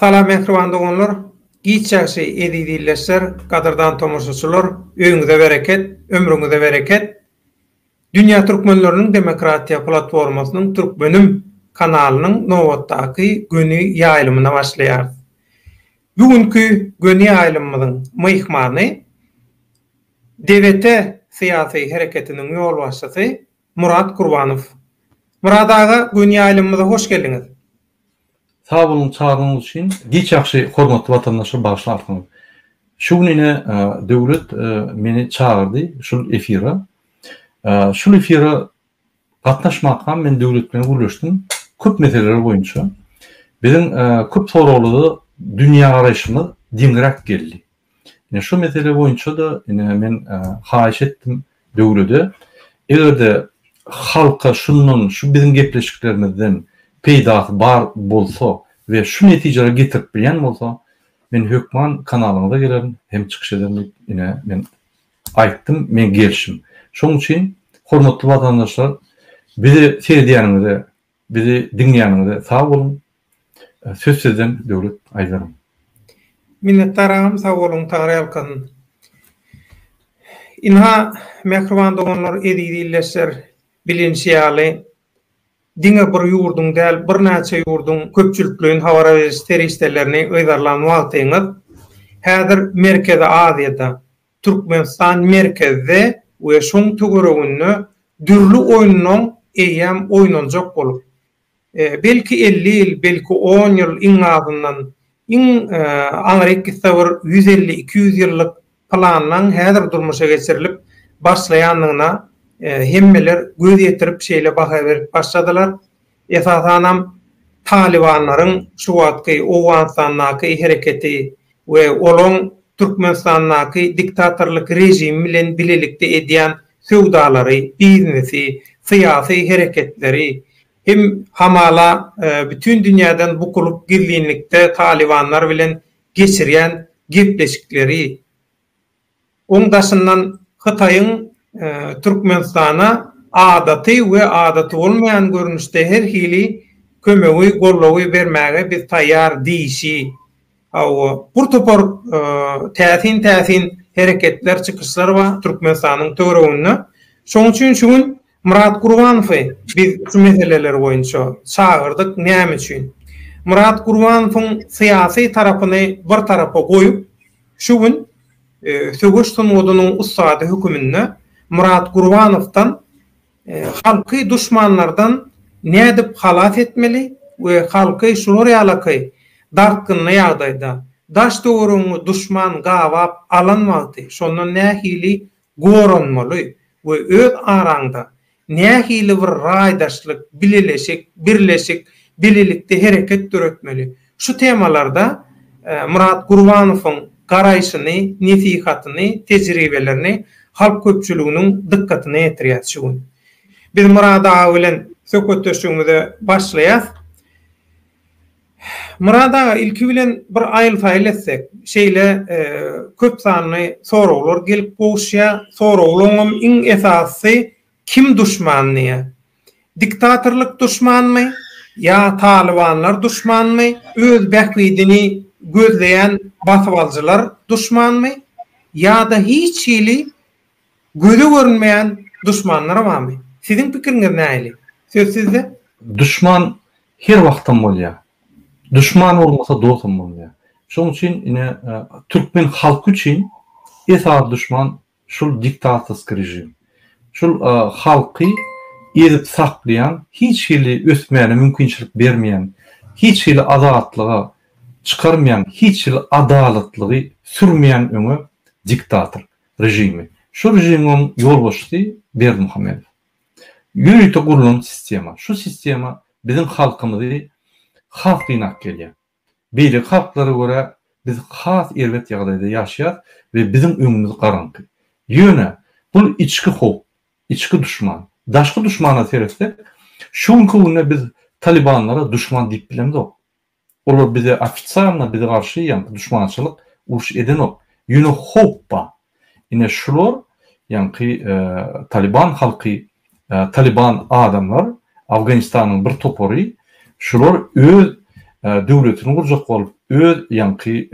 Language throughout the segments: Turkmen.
Salam mähriban doganlar, giç ýagşy eziz ildeşler, gadyrdan tomaşaçylar, öýüňize bereket, ömrüňize bereket! Dünýä Türkmenleriniň Demokratiýa Platformasynyň Türkmenim kanalynyň nobatdaky göni ýaýlymyna başlaýarys. Bu günki göni ýaýlymymyzyň myhmany DWT syýasy hereketiniň ýolbaşçysy Murat Gurbanow. Murat aga gün ýaýlymymyza hoş geldiňiz. Sag boluň çagyrynyňyz üçin. Giç ýagşy hormatly watandaşlar bagyşly artyňyz. Şu gün ine Döwlet meni çagyrdy şul efira. Şul efira gatnaşmakam men Döwlet bilen gürleşdim köp meseleler boýunça. Biziň köp soraglarda dünýä garaýşymyz deňräk geldi. Ine şu mesele boýunça-da ine men haýyş etdim döwlede, eger-de halka şundan, şu biziň gepleşiklerimizden peýdasy bar bolsa we şu netijelere getirip bilýän bolsa, men hökman kanalyňyza gelerin hem çykyş ederin diýip, ine men aýtdym, men gelşim. Şonuň üçin, hormatly watandaşlar, bizi seredýäniňize Bizi diňleýäniňize sag boluň. Söz sizden Döwlet Aýdarym. Minnetdar agam sag boluň Tagry ýalkasyn. Ynha mähriban doganlar eziz ildeşler bilinşi ýaly diňe bir ýurduň däl birnäçe ýurduň köpçülikleýin habara beriş serişdelerini yzarlan wagtyňyz häzir Merkezi Aziýada Türkmenistan merkezde we şoň töwereginde dürli oýnunyň eýýäm oýnanjak bolup, belki elli ýyl, belki on ýyl iň azyndan, iň aňry gitse bir ýüz elli, iki ýüz ýyllyk planlaň häzir durmuşa geçirilip başlaýandygyna hemmeler göz ýetirip şeýle baha berip başladylar. Esasanam Talybanlaryň şu wagtky Owganystandaky hereketi we olaň Türkmenistandaky diktatorlyk režimi bilen bilelikde edýän söwdalary, biznesi, syýasy hereketleri hem hamala bütin dünýäden bukulyp gizlinlikde Talybanlar bilen geçirýän gepleşikleri, Oň daşyndan Hytaýyň Türkmenistana adaty we adaty bolmaýan görnüşde her hili kömegi, goldawy bermäge biz taýýar diýişi, hawa, bir topar täsin-täsin hereketler, çykyşlar bar Türkmenistanyň töwereginde. Şoň üçin şu gün Myrat Gurbanowy biz şu meseleler boýunça çagyrdyk näme üçin? Myrat Gurbanowyň syýasy tarapyny bir tarapa goýup, şu gün söweş sungatynyň ussady höküminde Myrat Gurbanowdan halky duşmanlardan nädip halas etmeli we halky şular ýalaky dartgynly ýagdaýda, daş-töweregiňi duşman gabap alan wagty şondan nähili goranmaly we öz araňda nähili bir raýdaşlyk, bileleşik, birleşik, bilelikde hereket döretmeli? Şu temalarda Myrat Gurbanowyň garaýşyny, nesihatyny, tejribelerini halk köpçüliginiň dykgatyna ýetirýäs şu gün. Biz Myrat aga bilen söhbetdeşligimize başlaýas. Myrat aga ilki bilen bir aýyl-saýyl etsek, şeýle köp sanly soraglar gelip gowuşýa, soraglaryňam iň esasysy kim duşman diýe. Diktatorlyk duşmanmy ýa talybanlar duşmanmy, öz bähbidini gözleýän basybalyjylar duşmanmy ýa-da hiç hili göze görünmeýän duşmanlar barmy? Siziň pikiriňiz nähili? Söz sizde. Duşman Her wagtam bolýa. Duşman bolmasa dosam bolmaýa. Şoň üçin ine türkmen halky üçin esasy duşman şul diktatorski režim. Şul halky ezip saklaýan hiç hili ösmäne mümkinçilik bermeýän hiç hili azatlyga çykarmaýan hiç hili adalatlygy sürmeýän öňe diktator režimi. Şu režimiň ýolbaşçysy Berdimuhamedow. Ýörite gurlan sistema. Şu sistema biziň halkymyzy has gynap gelýär. Beýleki halklara görä biz has erbet ýagdaýda ýaşaýas we biziň öňümiz garaňky. Ýöne bul içki howp, içki duşman. Daşky duşmana seretsek, şu günki günde biz Talibanlara duşman diýip bilemzok. Olar bize ofitsialno bize garşy ýaňky duşmançylyk uruş edenok. Ýöne howp bar. Ine şular ýaňky Taliban halky Taliban adamlar Afganistanyň bir topary şular öz döwletini gurjak bolup öz ýaňky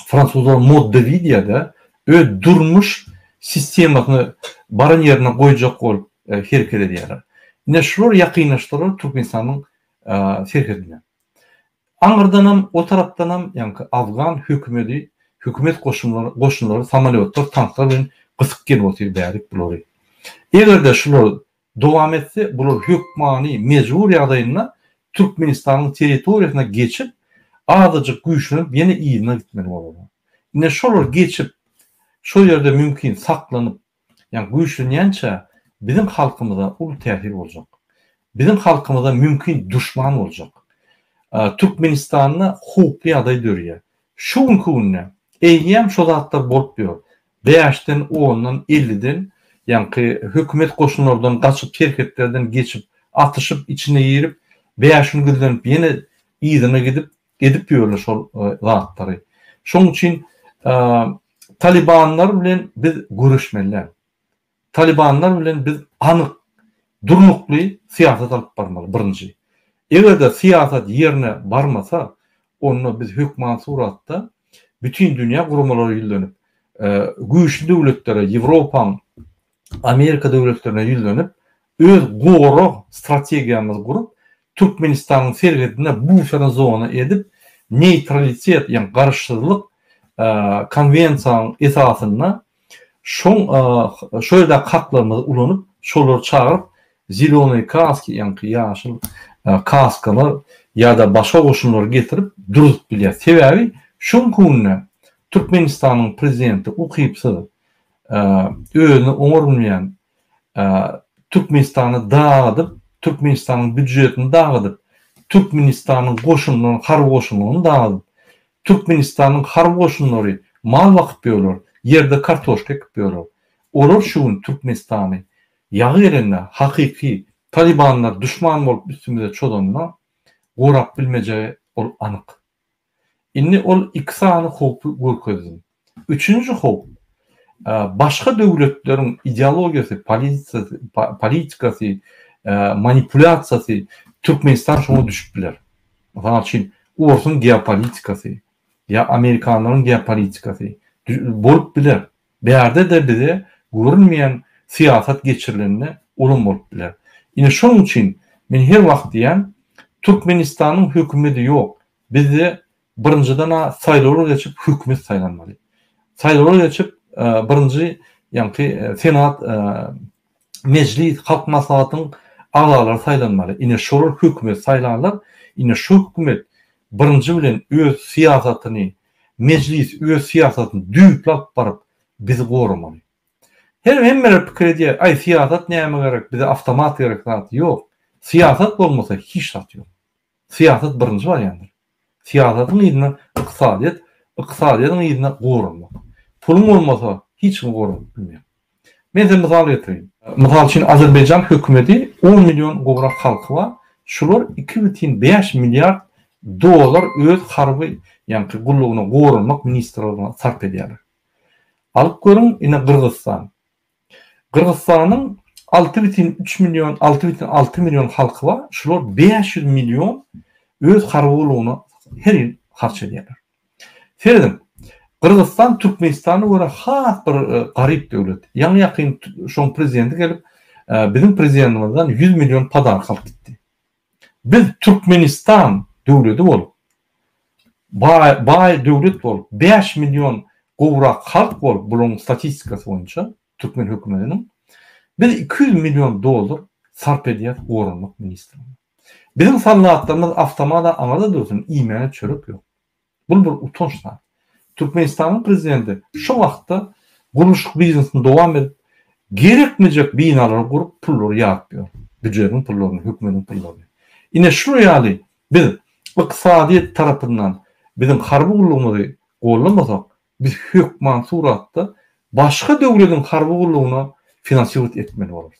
fransuzlar mode de vie diýýärde öz durmuş sistemasyny baran ýerine goýjak bolup hereket edýärler. Ine şular ýakynlaşdylar Türkmenistanyň serhedine. Aňyrdanam, o tarapdanam, ýaňky afgan hökümedi, hökümet goşunlary, goşunlary samolýotlar, tanklar bilen gysyp gelip otyr därik bulary. Eger-de şular dowam etse, bular hökmany, mejbur ýagdaýynda Türkmenistanyň territoriýasyna geçip, azajyk güýçlenip, ýene yzyna gitmeli bolarlar. Ine, şolar geçip, şol ýerde mümkin saklanyp, Ýa güýçlenýänçä biziň halkymyza uly täsir boljak. Biziň halkymyza mümkin duşman boljak. Türkmenistanda howply ýagdaý dörýär. Şu günki günde eýýäm şo zatlar bolup ýör. Bäşden, ondan, elliden ýaňky hökümet goşunlardan gaçyp serhetlerden geçip atyşyp içine girip bäş gün gizlenip ýene yzyna gidip Edip ýörler şol zatlary. Şoň üçin Talybanlar bilen biz göreşmeli däl. Talybanlar bilen biz anyk, durnukly syýasat alyp barmaly birinji. Eger-de syýasat ýerine barmasa, onda biz hökman suratda bütin dünýä guramalara ýüzlenip, güýçli döwletlere, Ýewropaň Amerika döwletlerine ýüzlenip, öz gorag strategiýamyzy gurup, Türkmenistanyň serhedine buferna zona edip, neýtralitet, ýagny garyşsyzlyk konwensiýanyň esasynda şoň şo ýerdäki haklarymyzy ulanyp, şolary çagyryp, zelenoýe kaski, ýagny ýaşyl kaskalar ýa-da başga goşunlary getirip durzup bilýär. Sebäbi şu günki günde Türkmenistanyň prezidenti ukypsyz, özüne oňa urunýan Türkmenistany dagydyp, Türkmenistanyň býujetini dagydyp, Türkmenistanyň goşunyny, harby goşunyny dagydyp, Türkmenistanyň harby goşunlary mal bakyp ýörler, ýerde kartoşka ekip ýörler. Olar şu gün Türkmenistany ýagy gelende, hakyky Talybanlar duşman bolup üstümize çozanda gorap bilmejegi ol anyk. Indi ol iki sany howpy görkezdim. Üçünji howp, başga döwletleriň ideologiýasy, polisiýasy, politikasy, manipulýasiýasy, Türkmenistan şoňa düşüp biler. Mysal üçin, orsuň geopolitikasy ýa amerikanlaryň geopolitikasy bolup biler. Bärde-de bize görünmeýän syýasat geçirilende ulam bolup biler. Ine şonuň üçin men her wagt diýýän, Türkmenistanyň hökümedi ýok. Bizde birinjiden-ä saýlawlar geçip hökümet saýlanmaly. Saýlawlar geçip birinji ýaňky senat Mejlis, Halk Maslahatynyň agzalary saýlanmaly. Ine, şolar hökümeti saýlarlar. Ine, şu hökümet birinji bilen öz syýasatyny, Mejlis öz syýasatyny düýpli alyp baryp, bizi goramaly. Her hemmeler pikir edýär, Aý, syýasat nämä gerek, bize awtomat gerek zat. Ýok. Syýasat bolmasa, hiç zat ýok. Syýasat birinji bolýandyr. Syýasatyň yzyna ykdysadyýet, ykdysadyýetiň yzyna goranmak. Puluň bolmasa, hiç kimi goranyp bilmeýäň. Men size mysal getireýin. Mysal üçin, Azerbaýjan hökümeti on million gowrak halky bar. Şular iki bütin bäş milliard dollar öz harby ýaňky gullugyna goranmak ministrligine sarp edýärler. Alyp görüň, ine, Gyrgyzystan. Gyrgyzystanyň alty bütin üç million, alty bütin alty million halky bar, şular bäş ýüz million öz harby gullugyna her ýyl harç edýärler. Serediň, Gyrgyzystan Türkmenistana görä has bir garyp döwlet. Ýaňy-ýakyn şoň prezidenti gelip, biziň prezidendimizden ýüz million podaryk alyp gitdi. Biz Türkmenistan döwleti bolup, baý döwlet bolup, bäş million gowrak halk bolup, bularyň statistikasy boýunça türkmen hökümetiniň, biz iki ýüz million dollar sarp edýäris goranmak ministrligine. Biziň soldatlarymyz awtomat-a aňyrda dursun, iýmäge çörek ýok. Bu bir utanç zat. Türkmenistanyň prezidenti şu wagtda gurluşyk biznesini dowam edip, gerekmejek binalary gurup, pullary ýaryp ýör. Býujetiň pullaryny, hökümetiň pullaryny. Ine şu ýaly biz ykdysadyýet tarapyndan biziň harby gullugymyzy gollamasak, biz hökman suratda başga döwlediň harby gullugyna finansiwat etmeli bolarys.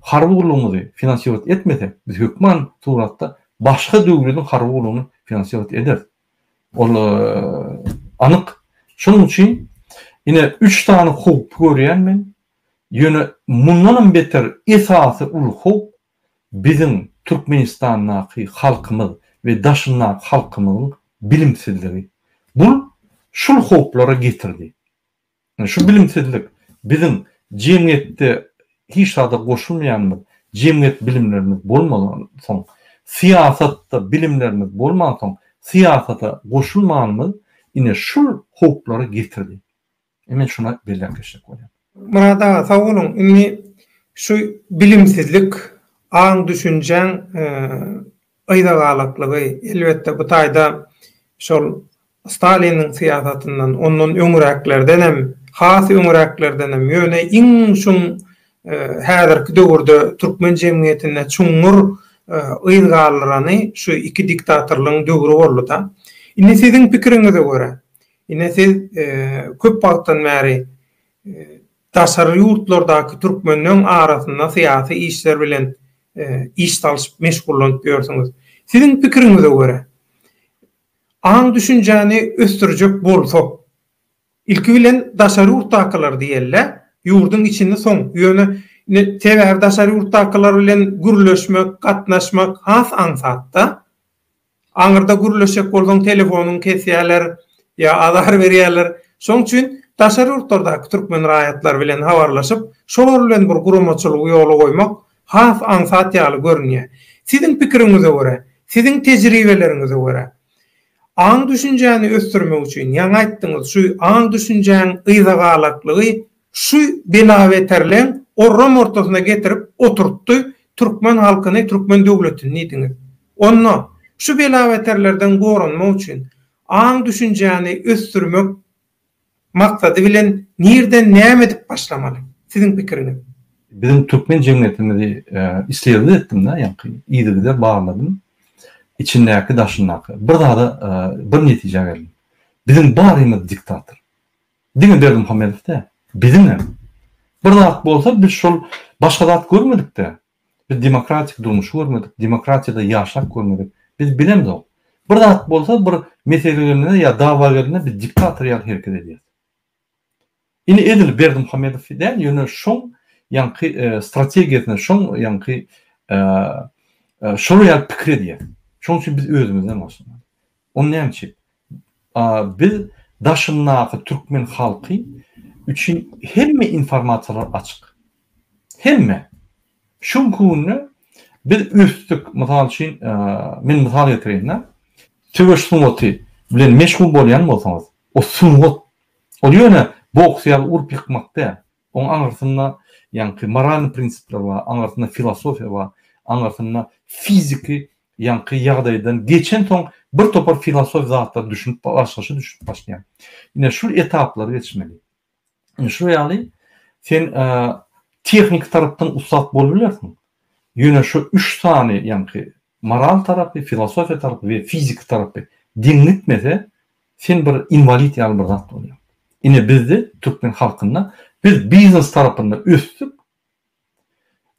harby gullugymyzy finansirat etmesek, biz hökman suratda başga döwlediň harby gullugyny finansirat ederis. Ol anyk. Şonuň üçin ine üç sany howpy görýän men. Ýöne mundanam beter esasy uly howp biziň Türkmenistandaky halkymyz we daşyndaky halkymyzyň bilimsizligi. Bul şul howplara getirdi. Şu bilimsizlik biziň jemgyýetde hiç zada goşulmaýanymyz, jemgyýet bilimlerimiz bolmansoň, syýasatda bilimlerimiz bolmansoň, syýasata goşulmanymyz ine şul howplara getirdi. Men şuna belläp geçjek bolýan. Myrat aga sag boluň. Indi şu bilimsizlik, aň-düşünjäň Gyzagallyklygy, elbetde, bu taýda şol Staliniň syýasatyndan, ondan öňräklerdenem, has öňräklerdenem, ýöne iň çuň häzirki döwürde türkmen jemgyýetinde çuňňur yz galdyrany şu iki diktatorlygyň döwri boldy-da. Indi siziň pikiriňize görä, ine siz köp wagtdan bäri Daşary ýurtlardaky türkmenleň arasynda syýasy işler bilen iş salyşyp meşgullanyp ýörsüňiz. Siziň pikiriňize görä, aň-düşünjäni ösdürjek bolsak, ilki bilen daşary ýurtdakylary diýeli-dä, ýurduň içini soň, ýöne indi sebäbi daşary ýurtdakylar bilen gürleşmek, gatnaşmak has aňsat-da. Aňyrda gürleşjek bolsaň telefonyňy kesýärler ýa azar berýärler. Şoň üçin daşary ýurtlardaky türkmen raýatlary bilen habarlaşyp, şolar bilen bir guramaçylygy ýola goýmak has aňsat ýaly görünýär. Siziň pikiriňize görä, siziň tejribeleriňize görä, aň-düşünjäni ösdürmek üçin, ýaňy aýtdyňyz, şu aň-düşünjäň yzagalaklygy Şu belabeterleň orram ortasyna getirip oturtdy türkmen halkyny türkmen döwletini diýdiňiz. Onda şu belabeterlerden goranmak üçin aň düşünjäni ösdürmek maksady bilen nirden näme edip başlamaly? Siziň pikiriňiz. Biziň türkmen jemgyýetimizi isledil etdimdä ýaňky yzygider barladym içindäki daşyndaky bir zada bir netijä geldim biziň barymyz diktator Diňe Berdimuhamedow däl, biziňem bir zat bolsa biz şol başga zat görmedikde, biz demokratik durmuşy görmedik, demokratiýada ýaşap görmedik, biz bilemzok. Bir zat bolsa bir mesele gelende ýa dawa gelende biz diktator ýaly hereket edýäs. Indi edil Berdimuhamedow däl, ýöne şoň ýaňky strategiýasyna, şoň ýaňky şolar ýaly pikir edýäs. Şoň üçin biz özümizden başlamaly. Ony näme üçin? Biz daşyndaky türkmen halky üçin hemme informasiýalar açyk. Hemme. Şu günki günde biz ösdük. Mysal üçin, men mysal getireýin-de. Söweş sungaty bilen meşgul bolýan bolsaňyz, o sungat. Ol ýöne boks ýaly urup ýykmak däl. Oň aňyrsynda ýaňky moralny prinsipler bar, aňyrsynda filosofiýa bar, aňyrsynda fiziki ýaňky ýagdaýdan geçensoň birtopar filosofik zatlar düşünip başlaşy düşünip başlaýar. Ine şul etaplary geçmeli. Ine şul ýaly sen tehniki tarapdan ussat bolup bilersiň. Ýöne şu üç sany ýaňky moral tarapy, filosofiýa tarapy we fiziki tarapy deň gitmese Sen bir inwalid ýaly bir zat bolýaň. Ine bizde türkmen halkynda biz biznes tarapynda ösdük,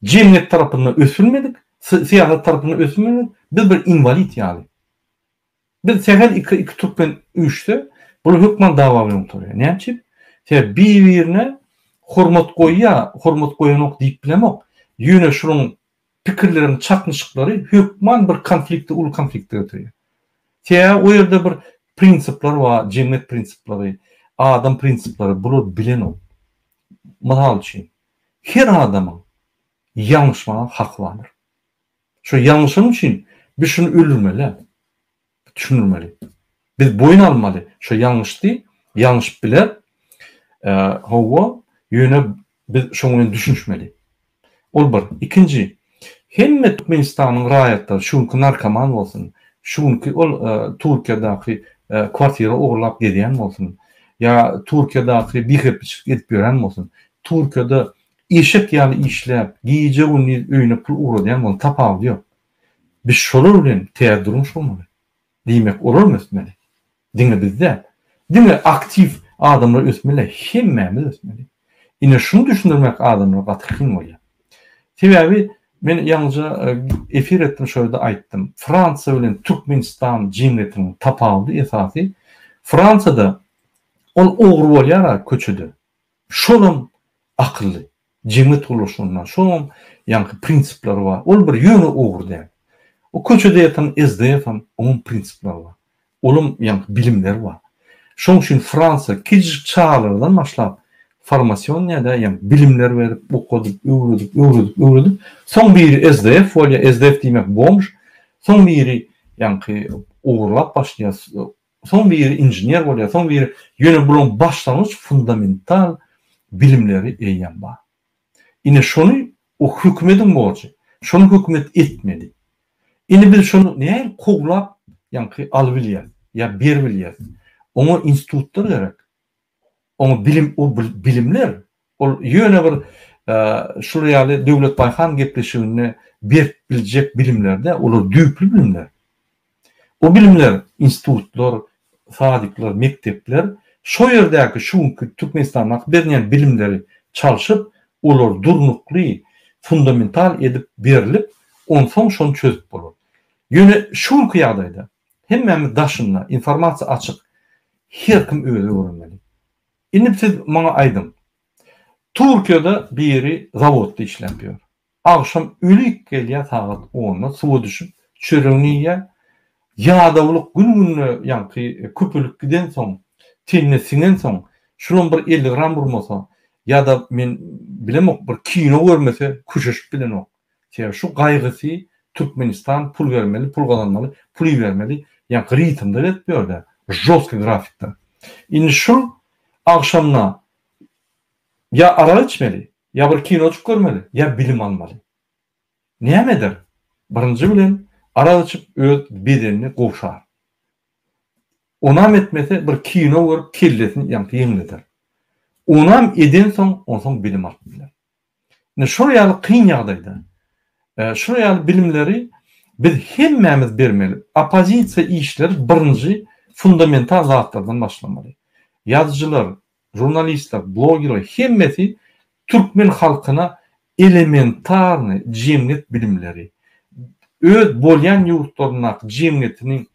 jemgyýet tarapynda ösülmedik, syýasat tarapynda ösülmedik, biz bir inwalid ýaly. Biz sähel iki iki türkmen üýşse, bular hökman dawa bilen gutarýar. Näme üçin? Sebäbi bir-birine hormat goýýar, hormat goýanok diýip bilemok. Ýöne şunuň pikirleriň çaknyşyklary hökman bir konflikti uly konflikte getirýär. Sebäbi o ýerde bir prinsipler bar, jemgyýet prinsipleri, adam prinsipleri, bular bilenok. Mysal üçin, her adamyň ýalňyşmaga haky bardyr. Şu ýalňyşan üçin biz şuny öldürmeli däl. Düşündirmeli. Biz boýun almaly. Şo ýalňyşdy, ýalňyşyp biler. Hawa, ýöne biz şoň bilen düşünişmeli. Ol bir. Ikinji, hemme Türkmenistanyň raýatlary, şu günki narkoman bolsun, şu günki ol Türkiýedäki kwartira ogurlap gezýän bolsun, ýa Türkiýedäki bihepbiçilik edip ýören bolsun, Türkiýede eşek ýaly işläp, gije-gündiz öýüne pul ugradýan bolsun, tapawudy ýok. Biz şolar bilen ter durmuş gurmaly. Diýmek, olam ösmeli. Diňe biz däl. Diňe aktiw adamlar ösmeli, hemmämiz ösmeli. Ine, şuny düşündirmek adamlara gaty kyn bolýar. Sebäbi men ýaňyja efir etdim, şo ýerde aýtdym. Fransiýa bilen Türkmenistan jemgyýetiniň tapawudy esasy, Fransiýada ol ogry bolýar-a köçede, Şolam akylly. Jemgyýet gurluşygynda şolam ýaňky prinsipler bar. Ol bir ýöne ugur däl. O köçede ýatan SDF-am oňam prinsipler bar. Olam ýaňky bilimler bar. Şoň üçin Fransiýa kiçijik çagalardan başlap formasionýada ýaňky bilimler berip, okadyp, öwredip, öwredip, öwredip, soň biri SDF bolýar, SDF diýmek bomž, soň biri ýaňky ogurlap başlaýar, Soň biri inžener bolýar, soň biri, ýöne bularyň başlangyç fundamental bilimleri eýýäm bar. Ine şony o hökümediň borjy. Şony hökümet etmeli. Indi biz şony nähili kowlap, ýaňky alybilýäris ýa beribilýäris? Oňa institutlar gerek. Oňa bilim o bilimler ol ýöne bir şular ýaly Döwlet Baýhan gepleşiginde berip biljek bilimlerde olar düýpli bilimler. O bilimler institutlar, sadikler, mekdepler şo ýerdäki şu günki Türkmenistandaky berilýän bilimleri çalşyp olar durnukly fundamental edip berlip onsoň şony çözüp bolar. Ýöne şu günki ýagdaýda Hemmämiz daşynda, informasiýa açyk, her kim özi öwrenmeli. Indi siz maňa aýdyň, Türkiýede biri zawodda işläp ýör. Agşam ölik gelýär sagat onda suwa düşüp, çöregini iýýär. Ýadawlyk gün-günde ýaňky köpelip gidensoň, tenine siňensoň, şulam bir elli gram urmasa ýa-da men bilemok, bir kino görmese köşeşip bilenok. Sebäbi şu gaýgysy Türkmenistan pul bermeli, pul gazanmaly, pul ibermeli ýaňky ritmde berip ýörde, žostky grafikde. Indi şul agşamda ýa arak içmeli, ýa bir kinojyk görmeli, ýa bilim almaly. Näme eder? Birinji bilen arak içip öz bedenini gowşar. Onam etmese bir kino görüp kellesini ýaňky ýeňleder. Onam edensoň onsoň bilim alyp biler. Indi şol ýaly kyn ýagdaýda, şol ýaly bilimleri biz hemmämiz bermeli. Oppozisiýa işleri birinji fundamental zatlardan başlamaly. Ýazyjylar, žurnalistler, blogerler hemmesi türkmen halkyna elementarnyý jemgyýet bilimleri, öz bolýan ýurtlaryndaky jemgyýetiniň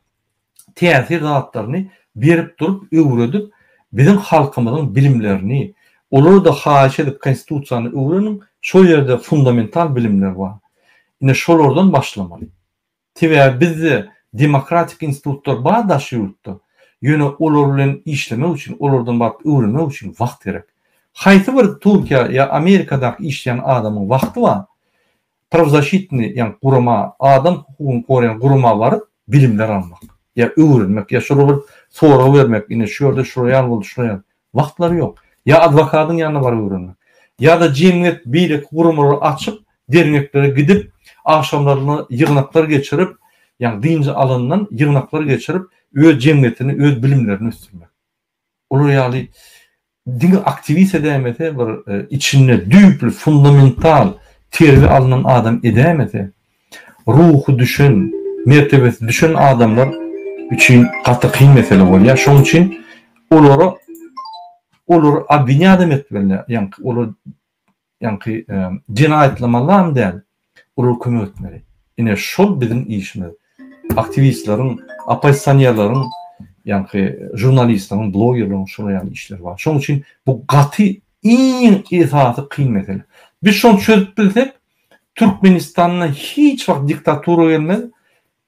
täsir zatlaryny berip durup öwredip biziň halkymyzyň bilimlerini olarda haýyş edip konstitusiýany öwreniň şol ýerde fundamental bilimler bar ine şolardan başlamaly sebäbi bizde demokratik institutlar bar daş ýurtda ýöne olar bilen işlemek üçin olardan baryp öwrenmek üçin wagt gerek haýsy bir turkiýa ýa amerikadaky işleýän adamyň wagty bar Prawzasşitnyý, ýagny gurama, adam hukugyny goraýan gurama baryp, bilimler almak, ýa öwrenmek, ýa şolara bir sorag bermek, ine, şu ýerde şular ýaly boldy, şular ýaly. Wagtlary ýok. Ýa adwokadyň ýanyna baryp öwrenmek. Ýa-da jemgyýet beýleki guramalary açyp, derňeklere gidip, agşamlaryna ýygnaklar geçirip, ýagny dynç alandan ýygnaklar geçirip, öz jemgyýetini, öz bilimlerini ösdürmek. Olar ýaly diňe aktiwist edäýmese, bir içinde düýpli, fundamental terbiýe alnan adam edäýmese, ruhy düşen, mertebesi düşen adamlar üçin gaty kyn mesele bolýar. Şonuň üçin olary, olary obwinýadam etmelidir. Ýaňky olar Ýaňky jenaýatlamalam däl, olar kömek etmeli. Ine şol biziň işimiz. Aktiwistleriň, oppozisionerleriň, ýaňky žurnalistleriň, blogerleriň şolar ýaly işleri bar. Şonuň üçin bu gaty iň esasy kyn mesele. Biz şony çözüp bilsek, Türkmenistanda hiç wagt diktatura gelmez,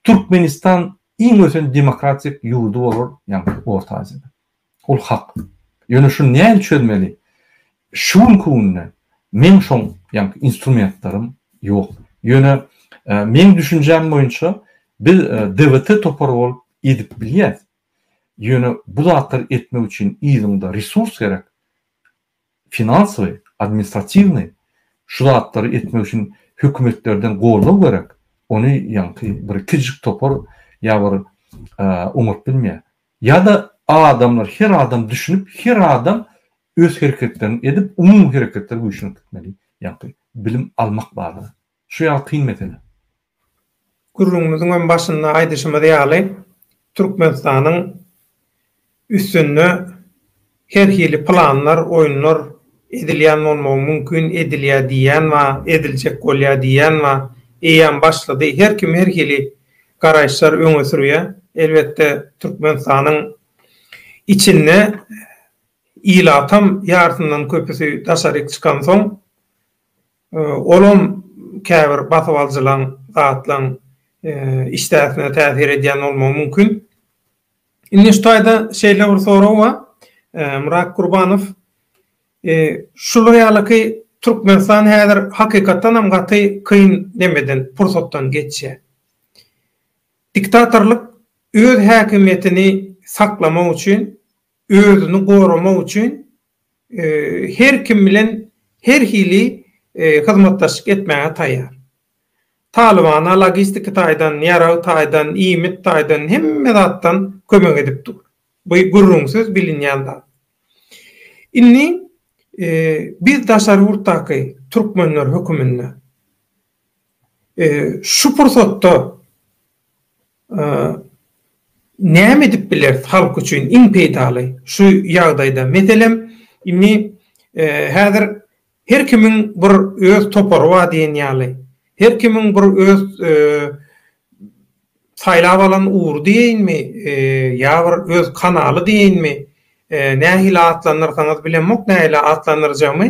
Türkmenistan iň ösen demokratik ýurdy bolar ýaňky Orta Aziýada. Ol hak. Ýöne şuny nähili çözmeli? Şu günki günde meň şoň ýaňky instrumentlerim ýok. Ýöne meň düşünjäm boýunça biz DVT topary bolup edip bilýäs. Ýöne bu zatlary etmek üçin yzyňda resurs gerek. finansowy, administratiwnyý şu zatlary etmek üçin hökümetlerden goldaw gerek, ony ýaňky bir kiçijik topar ýa bir oňat bilmeýär. Ýa-da adamlar, her adam düşünip, her adam öz hereketlerini edip, umumy hereketler güýçlenip gitmeli, ýaňky bilim almak barada. Şu ýaly kyn mesele. Gürrüňimiziň hem başynda aýdyşymyz ýaly, Türkmenistanyň üstünde her hili planlar, oýunlar edilýän bolmagy mümkin, edilýär diýýän bar, ediljek bolýar diýýän bar, eýýäm başlady. Her kim her hili garaýyşlary öňe sürýär. Elbetde, Türkmenistanyň içinde ilatam ýarysyndan köpüsi daşaryk çykansoň, Olam käbir basyp alyjylaň, zatlaň işdäsine täsir edýän bolmagy mümkin. Indi şu taýda şeýle bir sorag bar. Myrat Gurbanow şular ýalyky Türkmenistan häzir hakykatdan hem gaty kyn nemeden, pursatdan geçýär. Diktatorlyk öz häkimiýetini saklamak üçin özüni goramak üçin her kim bilen her hili hyzmatdaşlyk etmäge taýýar. Talybana logistiki taýdan, ýarag taýdan, iýmit taýdan hemme zatdan kömek edip dur. Bu gürrüňsiz bilinýän zat. Indi biz daşary ýurtdaky türkmenler höküminde Şu pursatda näme edip bileris halk üçin iň peýdaly şu ýagdaýda? Meselem, indi häzir her kimiň bir öz topary bar diýen ýaly, her kimiň bir öz saýlap alan ugry diýeýinmi, ýa bir öz kanaly diýeýinmi, nähili atlandyrsaňyz bilemok nähili atlandyrjagymy,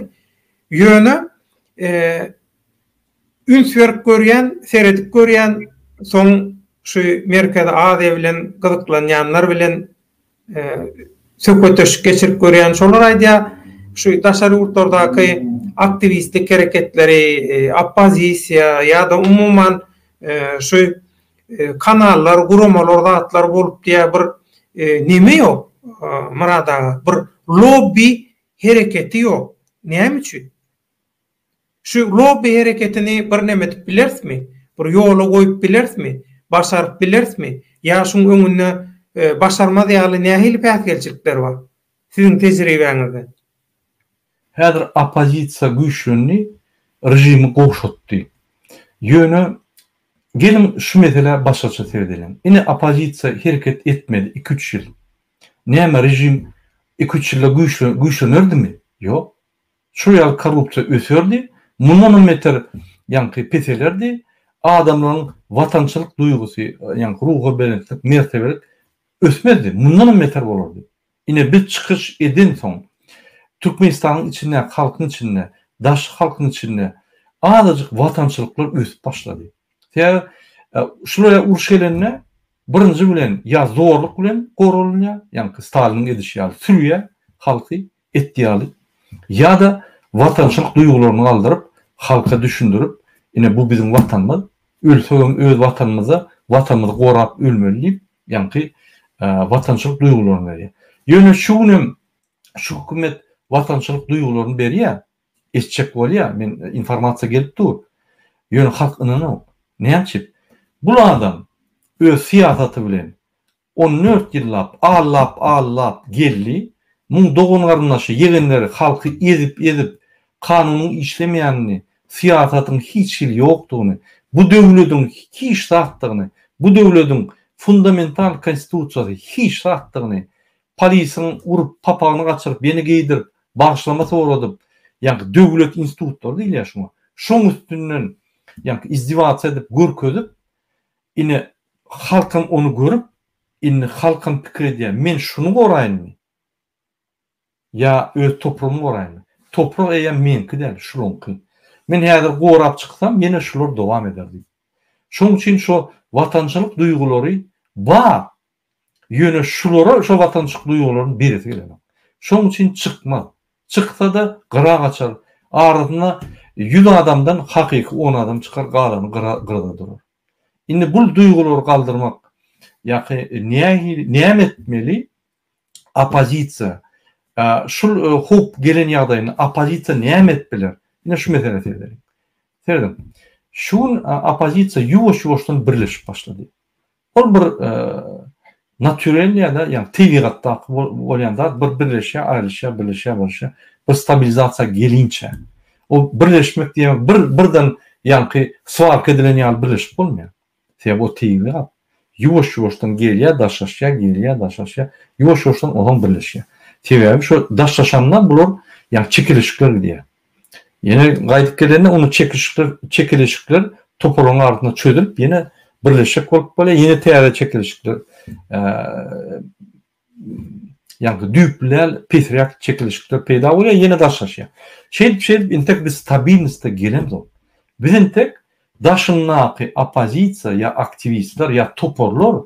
ýöne üns berip görýän, seredip görýän, soň şu Merkezi Aziýa bilen gyzyklanýanlar bilen söhbetdeşlik geçirip görýän. Şolar aýdýar, şu daşary ýurtlardaky aktiwistlik hereketleri, oppozisiýa ýa-da umuman şu kanallar, guramalar, zatlar bolup diýýär bir neme ýok, Myrat aga, bir lobbi hereketi ýok. Näme üçin? Şu lobby hereketini birneme edip bilerismi? Bir ýola goýup bilerismi? Başaryp bilerismi? Ýa şuň öňünde başarmaz ýaly nähili päsgelçilikler bar? Siziň tejribäňizde. Häzir oppozisiýa güýçlendi, režimi gowşatdy. Ýöne geliň şu meselä başgaça seredeliň. Ine oppozisiýa hereket etmedi iki-üç ýyl. Näme režim iki-üç ýylda güýçlenerdimi? Ýok. Şol ýaly korrupsiýa öserdi, mundanam beter ýaňky peselerdi, adamlaryň watançylyk duýgusy, ýaňky ruhubelentlik, mertebelik ösmezdi, mundanam beter bolardy. Ine biz çykyş edensoň, Türkmenistanyň içindäki halkyň içinde, daşky halkyň içinde azajyk watançylyklar ösüp başlady. Sebäbi şulara uruş gelende birinji bilen ýa zorluk bilen goralynýar, ýaňky Staliniň edişi ýaly sürýär halky, et ýaly ýa-da watançylyk duýgularyny galdyryp, halka düşündirip, ine bu biziň watanymyz, ölsegem öz watanymyzda, watanymyzy gorap ölmeli diýip, ýaňky watançylyk duýgularyny berýär. Ýöne şu gün hem şu hökümet watançylyk duýgularyny berýär, etjek bolýar, men informasiýa gelip dur. Ýöne halk ynanok. Näme üçin? Bul adam öz syýasaty bilen, On dört ýyllap, allap-allap geldi. Muň dogan-garyndaşy, ýegenleri halky ezip-ezip, kanunyň işlemeýänini, syýasatyň hiç hili ýokdugyny, bu döwlediň hiç zatdygyny, bu döwlediň fundamental konstitusiýasy hiç zatdygyny, polisiň urup, papagyny gaçyryp, ýene geýdirip, bagyşlama soradyp, ýaňky döwlet institutlary diýilýär şuňa, şoň üstünden, ýaňky izdiwasiýa edip, görkezip, Ine, halkam ony görüp, indi halkam pikir edýär, men şuny goraýynmy? Ýa öz topragymy goraýynmy? Toprak eýýäm meňki däl, şulaňky. Men häzir gorap çyksam, ýene şular dowam eder diýip. Şonuň üçin şo watançylyk duýgulary bar, Ýöne şulara şo watançyk duýgularyň beresi gelenok. Şoň üçin çykmaz. Çyksa-da gyra gaçar. Arasynda ýüz adamdan hakyky on adam çykar, galany gyra gyrada durar. Indi bul duýgulary galdyrmak ýaky nähili näme etmeli? Oppozisiýa şul howp gelen ýagdaýynda oppozisiýa näme edip biler? Ine şu meselä seredeliň. Serediň. Şu gün oppozisiýa ýuwaş-ýuwaşdan birleşip başlady. Ol bir naturel ýa-da ýa tebigatdaky bolýan zat bir birleşýär, aýrylyşýar, birleşýär, birleşýär. Bir stabilizasiýa gelinçä. O birleşmek diýmek bir birden ýaňky swarka edilen ýaly birleşip bolmaýar. Sebäbi o tebigat. Ýuwaş-ýuwaşdan gelýär, daşlaşýar, gelýär, daşlaşýar. Ýuwaş-ýuwaşdan ozan birleşýär. Sebäbi şo daşlaşanda bular ýa çekilişikler gidýär. Ýene gaýdyp gelende ony çekişikler, çekeleşikler toparlaryň arasynda çözülip, ýene birleşjek bolup bolýar, ýene täze çekeleşikler ýa-da düýpleýän pesiräk çekeleşikler peýda bolýar, ýene daşlaşýar. Şeýdip, şeýdip entek biz stabilnosda gelemzok. Biz entek daşyndaky oppozisiýa ýa aktiwistler ýa toparlar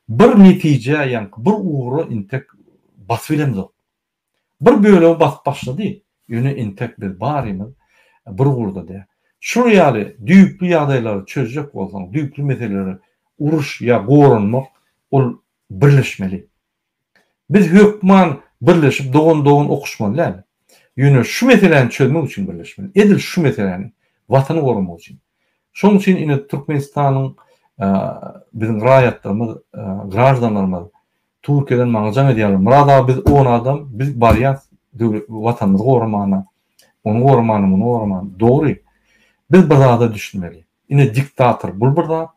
bir netijä ýa-da bir ugra entek basyp bilemzok. Bir bölegi basyp başlady, ýöne entek biz barymyz bir ugurda däl. Şul ýaly düýpli ýagdaýlary çözjek bolsaň, düýpli meseleleri uruş ýa goranmak ol birleşmeli. Biz hökman birleşip dogan-dogan okuşmaly däl. Ýöne şu meseläni çözmek üçin birleşmeli. Edil şu meseläni, Watany goramak üçin. Şoň üçin ine Türkmenistanyň biziň raýatlarymyz, graždanlarymyz Türkiýeden maňa jaň edýärler. Myrat aga biz on adam, biz barýas Watanymyzy goramana, ony goramana, muny goramana. Dogry. Biz bir zada düşünmeli. Ine diktator bul bir zat.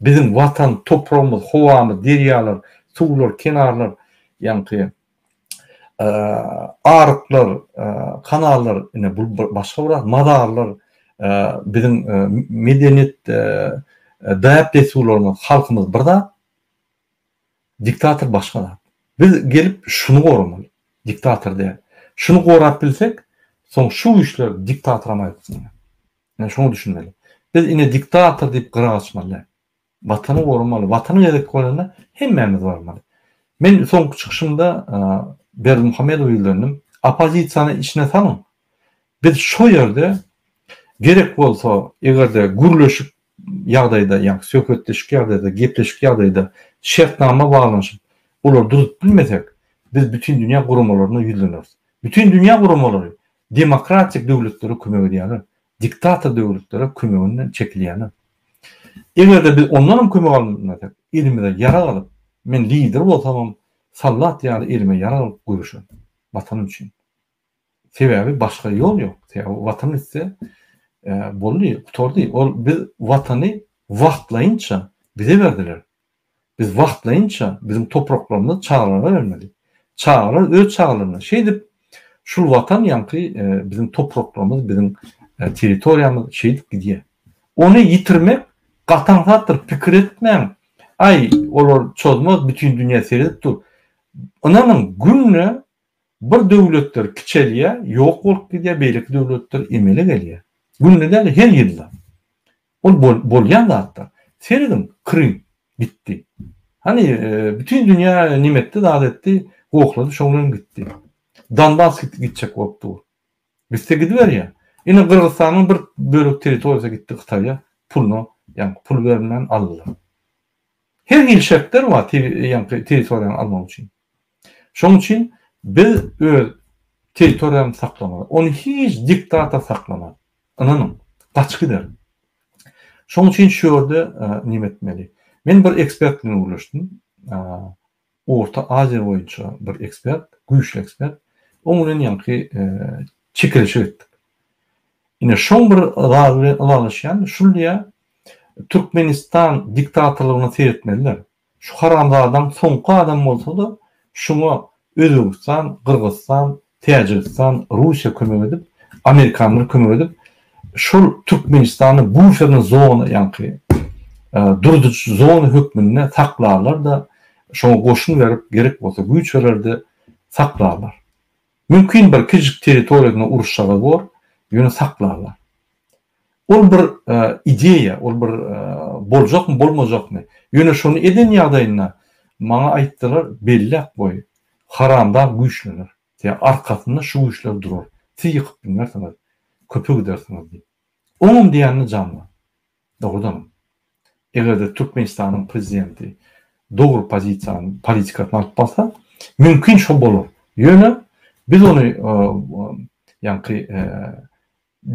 Biziň Watan, topragymyz, howamyz, derýalar, suwlar, kenarlar, ýaňky aryklar, kanallar, ine bul başga bir zat. Mazarlar, biziň medeniýet däp-dessurlarymyz, halkymyz bir zat. Diktator başga zat. Biz gelip şuny goramaly. Diktator däl. Şuny gorap bilsek, soň şu güýçler diktatoram aýypsyňlar. Ine şoňa düşünmeli. Biz ine diktator diýip gyra gaçmaly däl. Watany goramaly. Watan gezek bolanda hemmämiz barmaly. Men soňky çykyşymda Berdimuhamedowa ýüzlendim. Oppozisiýany içine salyň. Biz şo ýerde gerek bolsa, eger-de gürleşip ýagdaýda, ýagny söhbetdeşik ýagdaýda, gepleşik ýagdaýda şertnama baglanyşyp, olary duzup bilmesek, biz Bütindünýä guramalaryna ýüzleneris. Bütindünýä guramalary demokratik döwletlere kömek edýärler, diktator döwletlere kömeginden çekilýärler. Eger-de biz ondanam kömek almasak, elimize ýarag alyp, men lider bolsamam, soldat ýaly elime ýarag alyp göreşerin, Watanym üçin. Sebäbi başga ýol ýok. Sebäbi Watan gitse, boldy, gutardy. Ol biz Watany wagtlaýynça bize berdiler. Biz wagtlaýynça biziň topraklarymyzy çagalarymyza bermeli. Çagalar öz çagalaryna şeýdip şul Watan ýaňky biziň topraklarymyz, biziň territoriýamyz şeýdip gidýär. Ony ýitirmek gaty aňsatdyr. Pikir etmäň. Aý, olar çozmaz, bütin dünýä seredip dur. Ynanyň, günde Bir döwletler kiçelýär, ýok bolup gidýär, beýleki döwletler emele gelýär. Günde däl-de, her ýylda. Ol bolýan zatlar. Serediň, Krym gitdi. Hany, bütin dünýä nime etdi, zat etdi, gohlady, şoň bilen gitdi. Donbas gitjek bolup dur. Gitse gidiberýär. Ine, Gyrgyzystanyň bir bölek territoriýasy gitdi Hytaýa, puluna, ýaňky pul berilmän aldylar. Her hili şertler bar, ýaňky territoriýany almak üçin. Şonuň üçin biz öz territoriýamyzy saklamaly. Ony hiç diktator saklamaz. Ynanyň, gaçyp gider. Şonuň üçin şu ýerde näme etmeli? Men bir ekspert bilen gürleşdim. Orta Aziýa boýunça bir ekspert, güýçli ekspert. Oň bilen ýaňky çekeleşik etdik. Ine şoň bir zat bilen ylalaşýan, şul diýýär, Türkmenistan diktatorlygyna seretmeliler. Şu haramzadaň soňky adam bolsada şuňa Özbegistan, Gyrgyzystan, Täjigistan, Russiýa kömek edip, Amerikanlar kömek edip şol Türkmenistany buferna zona ýaňky durduryjy zona hökmünde saklarlarda şoňa goşun berip gerek bolsa güýç bererde saklarlar. Mümkin bir kiçijik territoriýada uruş çaga bor ýöne saklarlar. Ol bir ideýa, ol bir boljakmy, bolmajakmy. Ýöne şony eden ýagdaýynda maňa aýtdylar, Bellek goý, haramdag güýçlener. Ýa arkasynda şu güýçler durar. Siz ýykyp bilmersiňiz. Köpe gidersiňiz diýip. Oňam diýenine jan bar. Dogrudanam. Eger-de Türkmenistanyň prezidenti dogry pozisiýany, politikasyny alyp barsa, mümkin şo bolar. Ýöne biz ony ýaňky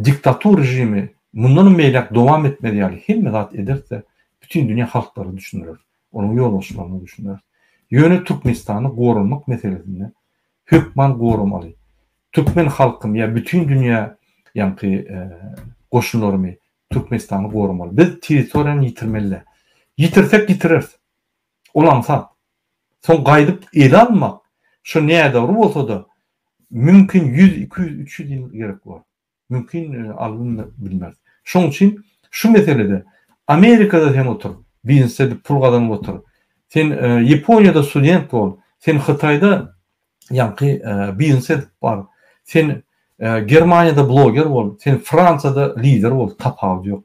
Diktator režimi mundanam beýläk dowam etmez ýaly hemme zat ederse, bütin dünýä halklara düşündireris, onuň ýolbaşçylaryna düşündireris. Ýöne Türkmenistany goramak meselesinde hökman goramaly. Türkmen halkym ýa bütin dünýä ýaňky goşunlarymy Türkmenistany goramaly. Biz territoriýany ýitirmeli däl. Ýitirsek ýitireris. Ol aňsat. Soň gaýdyp ele almak, şo nädogry bolsa-da, mümkin ýüz, iki ýüz, üç ýüz ýyl gerek bolar. Mümkin alyndy, bilmeris. Şoň üçin şu meselede Amerikada sen otur, biznes edip pul gazanyp otur, sen Ýaponiýada student bol, sen Hytaýda ýaňky biznes edip bar, sen Germaniýada bloger bol, sen Fransiýada lider bol, tapawudy ýok.